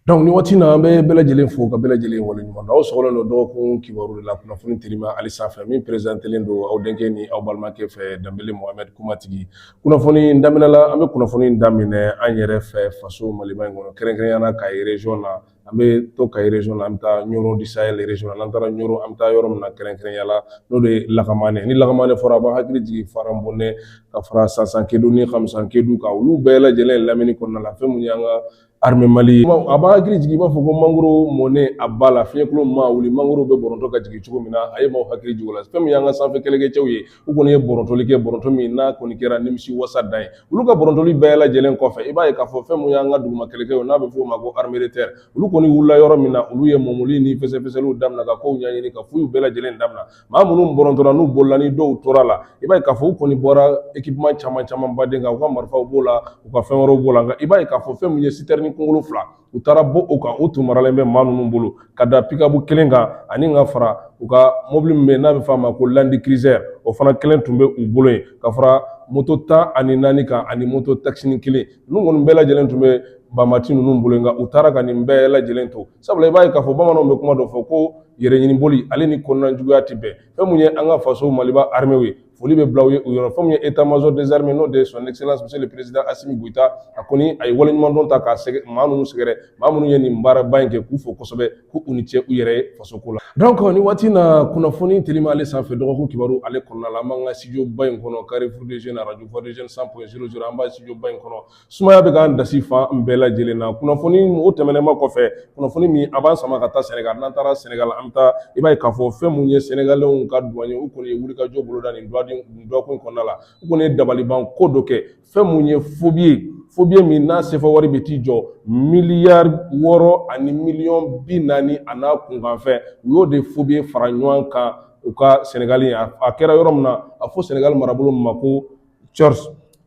Donc ni waati na an bɛ bɛɛ lajɛlen fo ka bɛɛ lajɛlen waleɲuman dɔn aw sɔgɔlen don dɔgɔkun kibaru de la kunnafoni telima ale sanfɛ min perezantelen don aw denkɛ ni aw balimakɛ fɛ danbele mohamɛdi kumatigi kunnafoni in daminɛ la an bɛ kunnafoni daminɛ an yɛrɛ fɛ faso maliba in kɔnɔ kɛrɛnkɛrɛnya na kayi region na an bɛ to kayi region na an bɛ taa ɲoro du sahel region na n'an taara ɲoro an bɛ taa yɔrɔ min na kɛrɛnkɛrɛnya la n'o de ye lakamane ni lakamane fɔra a b'an hakili jigin faran bonɛ ka fara sansankide ni kamsan kedu ka olu bɛɛ lajɛlen lamini kɔnɔna la fɛn mun y'an ka armée mali a b'an hakili jigin i b'a fɔ ko mangoro mɔnen a ba la fiɲɛkolo mana wuli mangoro bɛ bɔrɔntɔ ka jigin cogo min na a ye maaw hakili jigin o la fɛn min y'an ka sanfɛ kɛlɛkɛcɛw ye u kɔni ye bɔrɔntɔli kɛ bɔrɔntɔ min n'a kɔni kɛra nimisi wasa dan ye olu ka bɔrɔntɔli bɛɛ lajɛlen kɔfɛ i b'a ye k'a fɔ fɛn mun y'an ka duguma kɛlɛkɛw n'a bɛ f'o ma ko armée de terre olu kɔni wulila yɔrɔ min na olu ye mɔmɔli ni fɛsɛfɛsɛliw damina ka kow ɲɛɲini ka fouille bɛɛ lajɛlen damina maa minnu bɔrɔntɔra n'u bolila ni dɔw tora a la i b'a ye k'a fɔ u kɔni bɔra ekipman caman caman baden kan u ka marifaw b'o la u ka fɛn wɛrɛw b'o la nka i b'a ye k'a fɔ fɛn min ye sitɛrini kunkolo fila u taara bɔ o kan u tun maralen bɛ maa ninnu bolo ka da pikabu kelen kan ani ka fara u ka mobili min bɛ yen n'a bɛ f'a ma ko landi kirizɛri o fana kelen tun bɛ u bolo yen ka fara moto tan ani naani kan ani moto takisini kelen ninnu kɔni bɛɛ lajɛlen tun bɛ banbaanci ninnu bolo yen nka u taara ka nin bɛɛ lajɛlen to sabula i b'a ye k'a fɔ bamananw bɛ kuma dɔ fɔ ko yɛrɛɲiniboli ale ni kɔnɔnajuguya tɛ bɛn fɛn mun ye an ka faso maliba armew ye foli bɛ bila u ye u yɔrɔ fɛn mun ye état-major des armées n'o de ye son excellence monsieur le président asimi goyita a kɔni a ye waleɲumandɔn ta k'a sɛgɛ maa minnu sɛgɛrɛ maa minnu ye nin baaraba in kɛ k'u fo kosɛbɛ ko u ni cɛ u yɛrɛ ye fasoko la donc ni waati na kunnafoni telima ale sanfɛ dɔgɔkun kibaru ale kɔnɔna la an b'an ka studio ba in kɔnɔ carrefour des jeunes radio voix des jeunes 100.00 an b'a studio ba in kɔnɔ Sumaya bɛ k'an dasi fa an bɛɛ lajɛlen na kunnafoni o tɛmɛnenba kɔfɛ kunnafoni min a b'an sama ka taa sɛnɛgali n'an taara sɛnɛgali an bɛ taa i b'a ye k'a fɔ fɛn minnu ye sɛnɛgaliw ka duwani ye u kɔni ye wulikajɔ boloda nin dɔgɔkun kɔnɔna la u kɔni ye dabalibanko dɔ kɛ fɛn minnu ye fobiye fobiye min n'a sefa wari bɛ t'i jɔ miliyari wɔɔrɔ ani miliyɔn bi naani a n'a kunkanfɛn u y'o de fobiye fara ɲɔgɔn kan u ka sɛnɛgali a kɛra yɔrɔ min na a fɔ sɛnɛgali marabolo ma ko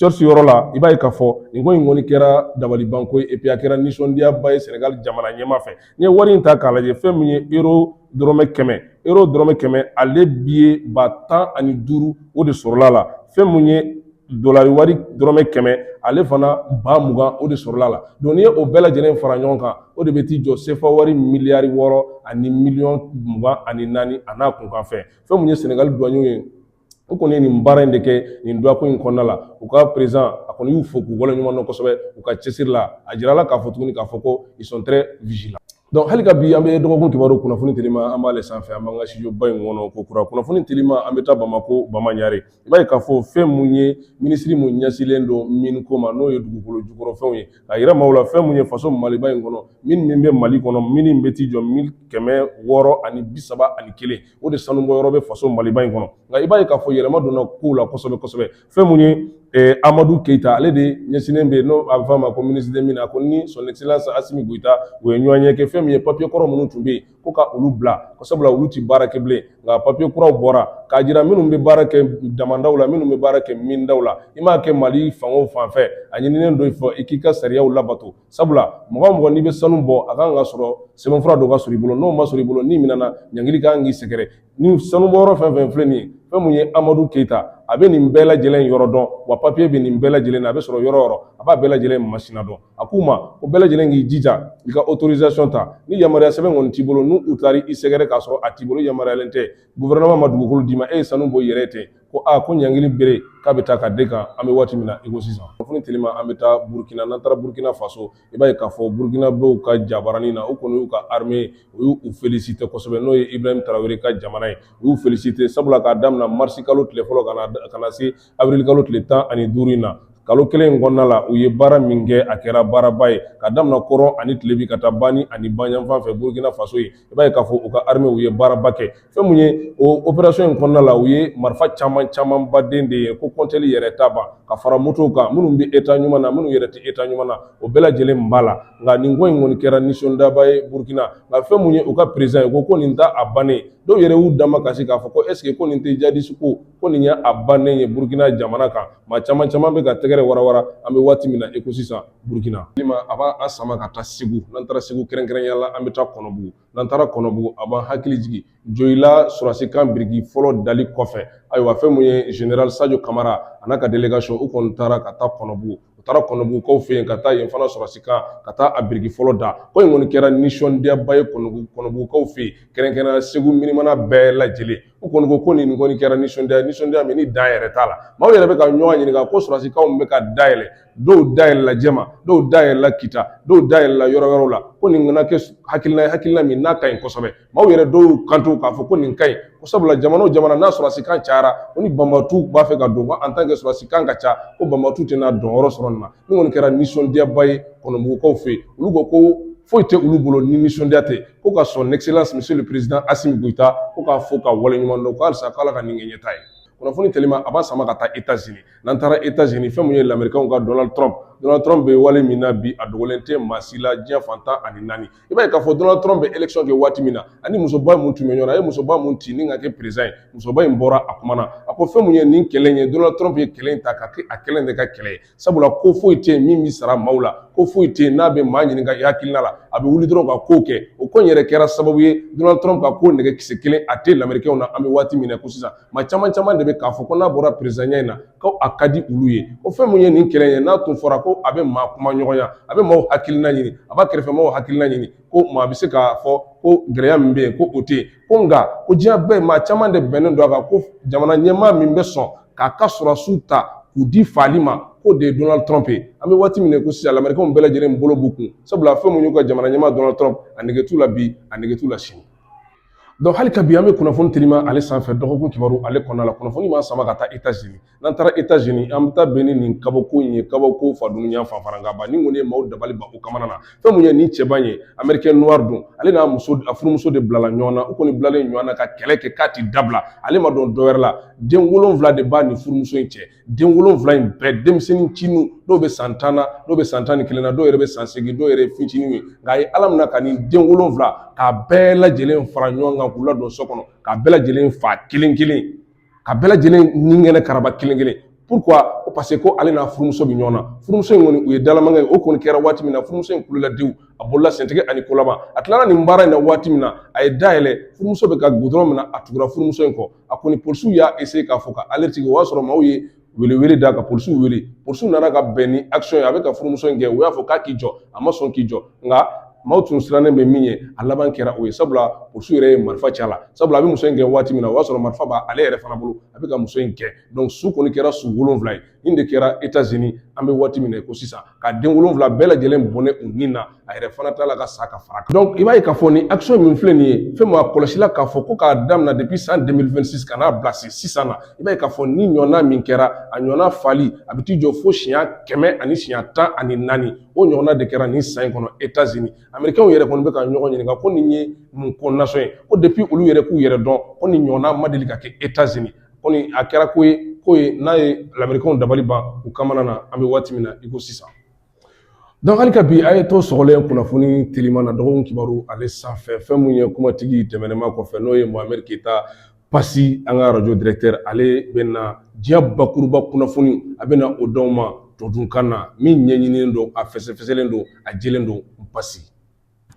cɛsi yɔrɔ la i b'a ye k'a fɔ nin ko in kɔni kɛra dabalibanko ye et puis a kɛra nisɔndiyaba ye sɛnɛgali jamana ɲɛmaa fɛ n'i ye wari in ta k'a lajɛ fɛn min ye euro dɔrɔmɛ kɛmɛ euro dɔrɔmɛ kɛmɛ ale biye ba tan ani duuru o de sɔrɔla a la fɛn min ye dolari wari dɔrɔmɛ kɛmɛ ale fana ba mugan o de sɔrɔla a la donc n'i ye o bɛɛ lajɛlen fara ɲɔgɔn kan o de bɛ t'i jɔ sefa wari miliyari wɔɔrɔ ani miliyɔn mugan ani naani a n'a kunkanfɛn fɛn min ye sɛnɛgali duwanɲɛw ye u kɔni ye nin baara in de kɛ nin dɔgɔkun in kɔnɔna la u ka perezidan a kɔni y'u fo k'u waleɲuman dɔn kosɛbɛ u ka cɛsiri la a jirala k'a fɔ tuguni k'a fɔ ko ils sont très vigilants donc hali ka bi an bɛ dɔgɔkun kibaru kunnafoni telima an b'ale sanfɛ an b'an ka studio ba in kɔnɔ ko kura kunnafoni telima an bɛ taa bamako bamaɲare i b'a ye k'a fɔ fɛn mun ye minisiri min ɲɛsinnen don miniko ma n'o ye dugukolo jukɔrɔfɛnw ye ka yira maaw la fɛn mun ye faso maliba in kɔnɔ mine min bɛ mali kɔnɔ mine bɛ t'i jɔ mine kɛmɛ wɔɔrɔ ani bi saba ani kelen o de sanubɔ yɔrɔ bɛ faso maliba in kɔnɔ nka i b'a ye k'a fɔ yɛlɛma donna kow la kosɛbɛ kosɛbɛ fɛn mun ye eh, amadu keyita ale de ɲɛsinnen bɛ n'o a bɛ fɔ a ma ko ministre des mines a ko ni son excellence asimi goyita u ye ɲɔgɔnye kɛ fɛn min ye papiye kɔrɔ minnu tun bɛ yen ko ka olu bila ko sabula olu ti baara kɛ bilen nka papiye kuraw bɔra k'a jira minnu bɛ baara kɛ damandaw la minnu bɛ baara kɛ mindaw la i m'a kɛ mali fan o fan fɛ a ɲininen don i fɛ i k'i ka sariyaw labato sabula mɔgɔ mɔgɔ n'i bɛ sanu bɔ a kan ka sɔrɔ sɛbɛnfura dɔ ka sɔrɔ i bolo n'o ma sɔrɔ i bolo n'i minɛna ɲangili ka kan k'i sɛgɛrɛ ni sanubɔyɔrɔ fɛn fɛn filɛ nin ye fɛn mun ye amadu keyita a bɛ nin bɛɛ lajɛlen yɔrɔ dɔn wa papiye bɛ nin bɛɛ lajɛlen na a bɛ sɔrɔ yɔrɔ yɔrɔ a b'a bɛɛ lajɛlen masina dɔn a ko maaw bɛɛ lajɛlen k'i jija i ka autorisation ta ni yamaruya sɛbɛn kɔni t'i bolo n'u taara i sɛgɛrɛ k'a sɔrɔ a t'i bolo yamaruyalen tɛ gouvernement ma dugukolo d'i ma e ye sanu bɔ i yɛrɛ ten ko a ko ɲangili bere k'a bɛ taa ka da e kan an bɛ waati min na i ko sisan kunnafoni telima an bɛ taa burukina n'an taara burukina faso i b'a ye k'a fɔ burukinabew ka jabaranin na u kɔni y'u ka armée u y'u félicité kosɛbɛ n'o ye Ibrahim Traoré ka jamana ye u y'u félicité sabula k'a daminɛ mars kalo tile fɔlɔ ka na ka na se avril kalo tile tan ani duuru in na kalo kelen in kɔnɔna la u ye baara min kɛ a kɛra baaraba ye k'a daminɛ kɔrɔn ani tilebi ka taa bani ani banyanfan fɛ burukina faso yen i b'a ye k'a fɔ u ka armew ye baaraba kɛ fɛn mun ye o operation in kɔnɔna la u ye marifa caman caman ba de de ye ko kɔntɛli yɛrɛ t'a ban ka fara motow kan minnu bɛ eta ɲuman na minnu yɛrɛ tɛ eta ɲuman na o bɛɛ lajɛlen b'a la nka nin ko in kɔni kɛra nisɔndiyaba ye burukina nka fɛn mun ye u ka président ye ko ko nin t'a bannen dɔw yɛrɛ y'u damakasi k'a fɔ ko est-ce que ko nin tɛ jadisi ko ko nin ye a bannen ye burukina jamana kan maa caman caman bɛ ka tɛgɛrɛ warawara an bɛ waati min na i ko sisan Burukina a b'an sama ka taa segu n'an taara segu kɛrɛnkɛrɛnya la an bɛ taa kɔnɔbugu n'an taara kɔnɔbugu a b'an hakili jigin joyila sɔrɔdasikan biriki fɔlɔ dali kɔfɛ ayiwa fɛn min ye zenerali sajo kamara a n'a ka délégation u kɔni taara ka taa kɔnɔbugu u taara kɔnɔbugukaw fɛ yen ka taa yen fana sɔrɔdasikan ka taa a biriki fɔlɔ da ko in kɔni kɛra nisɔndiyaba ye kɔnɔbugukaw fɛ yen kɛrɛnkɛrɛnya segu minimana bɛɛ lajɛlen u kɔni ko ko nin kɔni kɛra nisɔndiya nisɔndiya min ni dan yɛrɛ t'a la maaw yɛrɛ bɛ ka ɲɔgɔn ɲininka ko sɔrɔsikanw bɛ ka dayɛlɛ dɔw dayɛlɛla jɛma dɔw dayɛlɛla kita dɔw dayɛlɛla yɔrɔ wɛrɛw la ko nin kɔni kɛ hakilina hakilina min n'a ka ɲi kosɛbɛ maaw yɛrɛ dɔw kanto k'a fɔ ko nin ka ɲi ko sabula jamana o jamana n'a sɔrɔsikan cayara ko ni banbaatɔ b'a fɛ ka don ko en tant que sɔrɔsikan ka ca ko banbaatɔ tɛna donyɔrɔ sɔrɔ nin na Nin kɔni kɛra nisɔndiyaba ye kɔnɔbugukaw fɛ yen olu ko ko foyi tɛ olu bolo ni nisɔndiya tɛ ko ka son excellence monsieur le président asimi goyita ko k'a fo k'a waleɲuman dɔn ko halisa ko ala ka nin kɛ ɲɛtaa ye kunnafoni telima a b'an sama ka taa États-Unis n'an taara États-Unis fɛn min ye lamirikaw ka donald trump donald trump bɛ wale min na bi a dogolen tɛ maa si la diɲɛ fan tan ani naani i b'a ye k'a fɔ Donald Trump bɛ election kɛ waati min na a ni musoba mun tun bɛ ɲɔgɔn na a ye musoba mun ci ni ka kɛ président ye musoba in bɔra a kuma na a ko fɛn mun ye nin kɛlɛ in ye Donald Trump ye kɛlɛ in ta ka kɛ a kelen de ka kɛlɛ ye sabula ko foyi tɛ yen min bɛ sara maaw la ko foyi tɛ yen n'a bɛ maa ɲininka i hakilina la a bɛ wuli dɔrɔn ka ko kɛ o ko in yɛrɛ kɛra sababu ye Donald Trump ka ko nege kisɛ kelen a tɛ lamɛrikɛnw na an bɛ waati min na ko sisan maa caman caman de bɛ k'a fɔ ko n'a bɔra présidentya in na ko a ka di olu ye ko fɛn min ye nin kɛlɛ ye n'a tun fɔra ko a bɛ maa kumaɲɔgɔnya a bɛ maaw hakilina ɲini a b'a kɛrɛfɛ maaw hakilina ɲini ko maa bɛ se k'a fɔ ko gɛlɛya min bɛ yen ko o tɛ yen ko nka ko diɲɛ bɛɛ maa caman de bɛnnen don a kan ko jamana ɲɛmaa min bɛ sɔn k'a ka sɔrɔdasiw ta k'u di faali ma k'o de ye Donald Trump ye an bɛ waati min na ko sisan Amerikɛnw bɛɛ lajɛlen bolo b'u kun sabula fɛn min y'u ka jamana ɲɛmaa Donald Trump a nege t'u la bi a nege t'u la sini Donc hali ka bi an bɛ kunnafoni telima ale sanfɛ dɔgɔkun kibaru ale kɔnɔna la kunnafoni b'an sama ka taa États-Unis n'an taara États-Unis an bɛ taa bɛn ni nin kabako in ye kabako fadunuya fanfarankaba nin kɔni ye maaw dabali ban u kamana na fɛn mun ye nin cɛban ye américain noir don ale n'a muso a furumuso de bilala ɲɔgɔn na u kɔni bilalen ɲɔgɔn na ka kɛlɛ kɛ k'a tɛ dabila ale ma dɔn dɔwɛrɛ la den wolonwula de b'a ni furumuso in cɛ den wolonwula in bɛɛ denmisɛnnin cininw dɔw bɛ san tan na dɔw bɛ san tan ni kelen na dɔw yɛrɛ bɛ san segin dɔw yɛrɛ ye fitinin ye nka a ye ala minɛ ka nin den wolonwula k'a bɛɛ lajɛlen fara ɲɔgɔn kan k'u ladon so kɔnɔ k'a bɛɛ lajɛlen fa kelen kelen ka bɛɛ lajɛlen nikɛnɛ karaba kelen kelen pourquoi ko parce que ko ale n'a furumuso bɛ ɲɔgɔn na furumuso in kɔni u ye dalamaŋɛ ye o kɔni kɛra waati min na furumuso in kulola diw a bolola sentɛgɛ ani kolama a tilala nin baara in na waati min na a ye da yɛlɛ furumuso bɛ ka gudɔrɔn minɛ a tugura furumuso in kɔ a kɔni polisiw y'a essayé k'a fɔ ka ale sigi o y'a sɔrɔ maaw ye welewele da ka polisiw wele polisiw nana ka bɛn ni action ye a bɛ ka furumuso in gɛn u y'a fɔ k'a k'i jɔ a ma sɔn k'i jɔ nka maaw tun sirannen bɛ min ɲɛ a laban kɛra o ye sabula polisiw yɛrɛ ye marifa ci a la sabula a bɛ muso in gɛn waati min na o y'a sɔrɔ marifa b'a ale yɛrɛ fana bolo a bɛ ka muso in gɛn donc su kɔni kɛra su wolonwula ye nin de kɛra Etats-Unis an bɛ waati min na ko sisan ka den wolonwula bɛɛ lajɛlen bɔnɛ u ni na a yɛrɛ fana tilala ka sa ka far'a kan donc i b'a ye k'a fɔ nin action min filɛ nin ye fɛn min a kɔlɔsila k'a fɔ ko k'a damina depuis san 2026 ka n'a bila se sisan na i b'a ye k'a fɔ nin ɲɔgɔnna min kɛra a ɲɔgɔnna fali a bɛ t'i jɔ fo siɲɛ kɛmɛ ani siɲɛ tan ani naani o ɲɔgɔnna de kɛra nin san in kɔnɔ Etats-Unis américains yɛrɛ kɔni bɛ ka ɲɔgɔn ɲininka ko nin ye mun ko nasɔn ye ko depuis olu yɛrɛ k'u yɛrɛ dɔn ko nin ɲɔgɔnna ma deli ka kɛ Etats-Unis kɔni a kɛra ko ye ko ye n'a ye lamɛrikɛnw dabali ban u kamana na an bɛ waati min na i ko sisan donc hali ka bi a ye to sɔgɔlen kunnafoni telima na dɔgɔkun kibaru ale sanfɛ fɛn min ye kumatigi tɛmɛnɛma kɔfɛ n'o ye mohamed keyita pasi an ka radio directeur ale bɛna diɲɛ bakuruba kunnafoni a bɛna o d'aw ma todunkan na min ɲɛɲininen don a fɛsɛfɛsɛlen don a jelen don pasi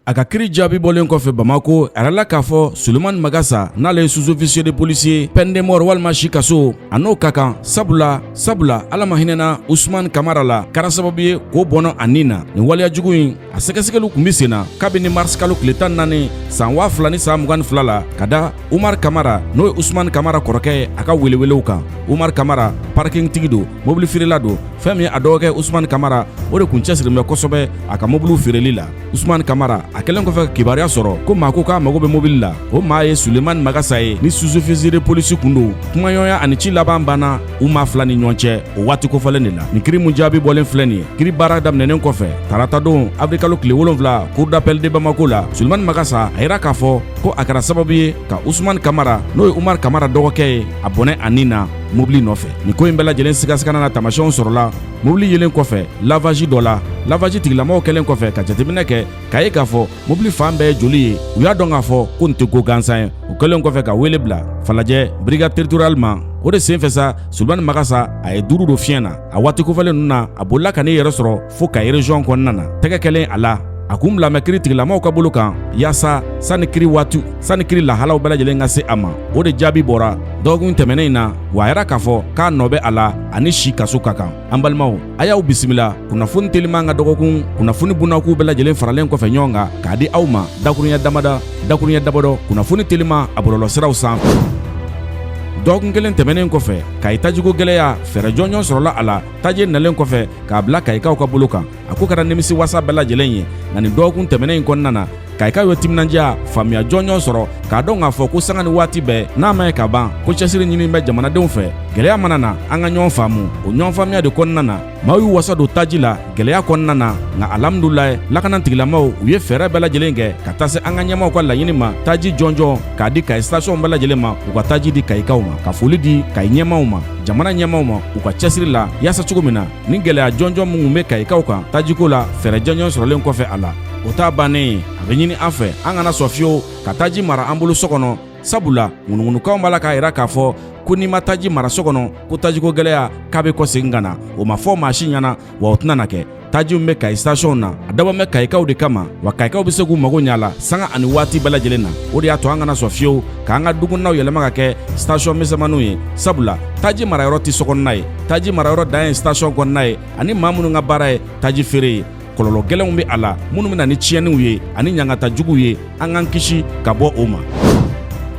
A ka kiri jaabi bɔlen kɔfɛ Bamako, a jirala k'a fɔ Sulemani Magasa n'ale ye sous officier de police ye peine de mort walima si kaso, a n'o ka kan sabula sabula Ala ma hinɛ na Usumani Kamara la, a kɛra sababu ye k'o bɔnɛ a ni na. Nin waleya jugu in, a sɛgɛsɛgɛliw tun bɛ sen na kabini mars kalo tile 14 san 2022 la ka da Umar Kamara n'o ye Usman Kamara kɔrɔkɛ ye a ka welewelew kan Umar Kamara parking tigi don mobili feerela don fɛn min y'a dɔgɔkɛ Usman Kamara o de kun cɛsirilen bɛ kosɛbɛ a ka mobiliw feereli la Usman Kamara a kɛlen kɔfɛ ka kibaruya sɔrɔ ko maa ko k'a mago bɛ mobili la o maa ye Suleman Magasa ye ni sous-officier de police kun don kumaɲɔgɔnya ani ci laban banna u maa fila ni ɲɔgɔn cɛ o waati kofɔlen de la nin kiri min jaabi bɔlen filɛ nin ye kiri baara daminɛnen kɔfɛ taratadon avril kalo tile wolonfila cour d'appel de bamako la sulemani magasa a yira k'a fɔ ko a kɛra sababu ye ka usumani kamara n'o ye umar kamara dɔgɔkɛ ye a bɔnɛ a ni na mobili nɔfɛ nin ko in bɛɛ lajɛlen sigasigana n'a taamasiyɛnw sɔrɔla mobili yelen kɔfɛ lavaji dɔ la lavaji tigilamɔgɔw kɛlen kɔfɛ ka jateminɛ kɛ k'a ye k'a fɔ mobili fan bɛɛ ye joli ye u y'a dɔn k'a fɔ ko nin tɛ ko gansan ye u kɛlen kɔfɛ ka wele bila falajɛ brigade territoriale ma o de senfɛ sa sulemani magasa a ye duuru don fiɲɛ na a waati kofɔlen ninnu na a bolila ka n'i yɛrɛ sɔrɔ fo kayi erezɔn kɔnɔna na tɛgɛ kɛlen a la a kun bilalen bɛ kiri tigilamaw ka bolo kan yaasa sanni kiri waati sanni kiri lahalaw bɛɛ lajɛlen ka se a ma o de jaabi bɔra dɔgɔkun tɛmɛnen in na wa a yira k'a fɔ k'a nɔ bɛ a la a ni si kaso ka kan An balimaw a y'aw bisimila kunnafoni teliman ka dɔgɔkun kunnafoni bunakuu bɛɛ lajɛlen faralen kɔfɛ ɲɔgɔn kan k'a di aw ma dakurunya damadɔ dakurunya damadɔ kunnafoni telima a bɔlɔlɔsiraw sanfɛ dɔgɔkun kelen tɛmɛnen kɔfɛ kayi tajiko gɛlɛya fɛɛrɛ jɔnjɔn sɔrɔla a la taji nalen kɔfɛ k'a bila kayikaw ka bolo kan a ko kɛra nimisi wasa bɛɛ lajɛlen ye nka nin dɔgɔkun tɛmɛnen in kɔnɔna na kayikaw ye timinandiya faamuya jɔnjɔn sɔrɔ k'a dɔn k'a fɔ ko sanga ni waati bɛɛ n'a ma ye ka ban ko cɛsiri ɲini bɛ jamanadenw fɛ gɛlɛya mana na an ka ɲɔgɔn faamu o ɲɔgɔn faamuya de kɔnɔna na maaw y'u wasa don taji la gɛlɛya kɔnɔna na nka alhamdulayi lakana tigilamaw u ye fɛɛrɛ bɛɛ lajɛlen kɛ ka taa se an ka ɲɛmaw ka laɲini ma taji jɔnjɔn k'a di kayi sitasiɔn bɛɛ lajɛlen ma u ka taji di kayikaw ma ka foli di kayi ɲɛmaw ma jamana ɲɛmaw ma u ka cɛsiri la yaasa cogo min na ni gɛlɛya jɔnjɔn minnu bɛ kayikaw kan tajiko la fɛɛrɛ jɔnjɔn sɔrɔlen kɔfɛ a la o t'a bannen ye a bɛ ɲini an fɛ an kana sɔn fiyewu ka taji mara an bolo so kɔnɔ sabula ŋunuŋunukanw b'a la k'a yira k'a fɔ ko n'i ma taji mara so kɔnɔ ko tajiko gɛlɛya k'a bɛ kɔsegin ka na o ma fɔ maa si ɲɛna wa o tɛna na kɛ taji min bɛ kayi sitasiɔnw na a dabɔ bɛ kayikaw de kama wa kayikaw bɛ se k'u mago ɲɛ a la sanga ani waati bɛɛ lajɛlen na o de y'a to an kana sɔn fiyewu k'an ka dukɔnɔnaw yɛlɛma ka kɛ sitasiɔn misɛnmaninw ye sabula taji marayɔrɔ tɛ sokɔnɔna ye taji marayɔrɔ dan ye station kɔnɔna ye ani maa minnu ka baara ye taji feere ye kɔlɔlɔ gɛlɛnw bɛ a la minnu bɛna ni tiɲɛniw ye ani ɲangata juguw ye an k'an kisi ka bɔ o ma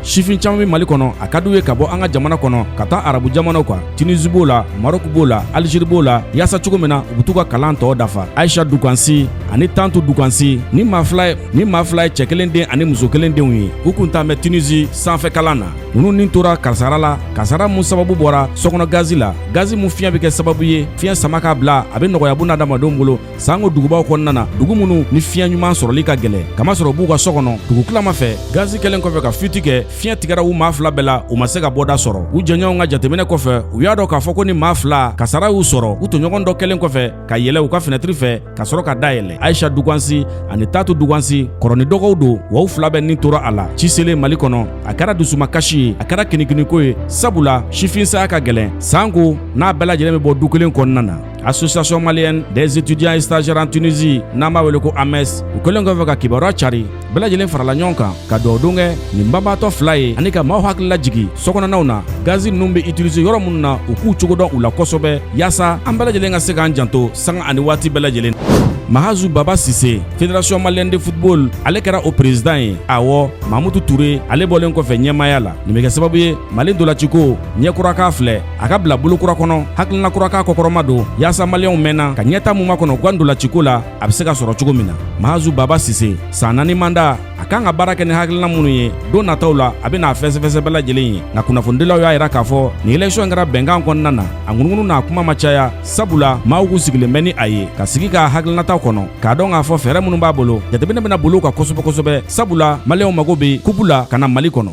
sifin caman bɛ mali kɔnɔ a ka d'u ye ka bɔ an ka jamana kɔnɔ ka taa arabu jamanaw kan tunisi b'o la marɔku b'o la alizeri b'o la yaasa cogo min na u bɛ t'u ka kalan tɔ dafa ayisa dukansi ani tantu dukansi nin maa fila ye cɛ kelen den ani muso kelen denw ye u kun taalen bɛ tunisi sanfɛ kalan na ninnu ni tora karisara la karisara mun sababu bɔra sokɔnɔ gazi la gazi mun fiɲɛ bɛ kɛ sababu ye fiɲɛ sama k'a bila a bɛ nɔgɔya buna adamadenw bolo sanko dugubaw kɔnɔna na dugu minnu ni fiɲɛ ɲuman sɔrɔli ka gɛlɛn k'a masɔrɔ u b'u ka so kɔnɔ dugutilama fɛ gazi kɛlen kɔfɛ ka fuite kɛ fiɲɛ tigɛra u maa fila bɛɛ la u ma se ka bɔda sɔrɔ u jɛɲɔgɔnw ka jateminɛ kɔfɛ u y'a dɔn k'a fɔ ko nin maa fila kasara y'u sɔrɔ u tɔɲɔgɔn dɔ kɛlen kɔfɛ ka yɛlɛ u ka finɛtiri fɛ ka sɔrɔ ka da yɛlɛ ayisa dugansi ani tatu dugansi kɔrɔ ni dɔgɔw don wa u fila bɛɛ ni tora a la ci selen mali kɔnɔ a kɛra dusumakasi ye a kɛra kinikiniko ye sabula sifin saya ka gɛlɛn sanko n'a bɛɛ lajɛlen bɛ bɔ du kelen kɔnɔna na association malienne des étudiants et stagiaires en tunisie n'an b'a wele ko ames u kɛlen kɔfɛ ka kibaruya cari bɛɛ lajɛlen farala ɲɔgɔn kan ka dugawudon kɛ nin banbaatɔ fila ye ani ka maaw hakili lajigi sokɔnɔnaw na gazi ninnu bɛ itilize yɔrɔ minnu na u k'u cogo dɔn u la kosɛbɛ yaasa an bɛɛ lajɛlen ka se k'an janto sanga ani waati bɛɛ lajɛlen mahazu baba sise federasiɔn maliyɛn de futubol ale kɛra o perezidan ye awɔ mamutu ture ale bɔlen kɔfɛ ɲɛmaaya la nin bɛ kɛ sababu ye mali ntolaciko ɲɛ kura k'a filɛ a ka bila bolo kura kɔnɔ hakilina kura k'a kɔkɔrɔmadon yaasa maliyɛnw mɛnna ka ɲɛtaa mun makɔnɔ u ka ntolaciko la a bɛ se ka sɔrɔ cogo min na mahazu baba sise san naani manda a kan ka baara kɛ ni hakilina minnu ye don nataw la a bɛna a fɛsɛfɛsɛ bɛɛ lajɛlen ye nka kunnafonidilaw y'a yira k'a fɔ nin election kɛra bɛnkan kɔnɔna na a ŋunuŋunu n'a kuma ma caya sabula maaw kun sigilen bɛ ni a ye ka sigi k'a hakilinataw kɔnɔ k'a dɔn k'a fɔ fɛɛrɛ minnu b'a bolo jateminɛ bɛna boli u kan kosɛbɛ kosɛbɛ sabula maliyɛnw mago bɛ kupu la ka na mali kɔnɔ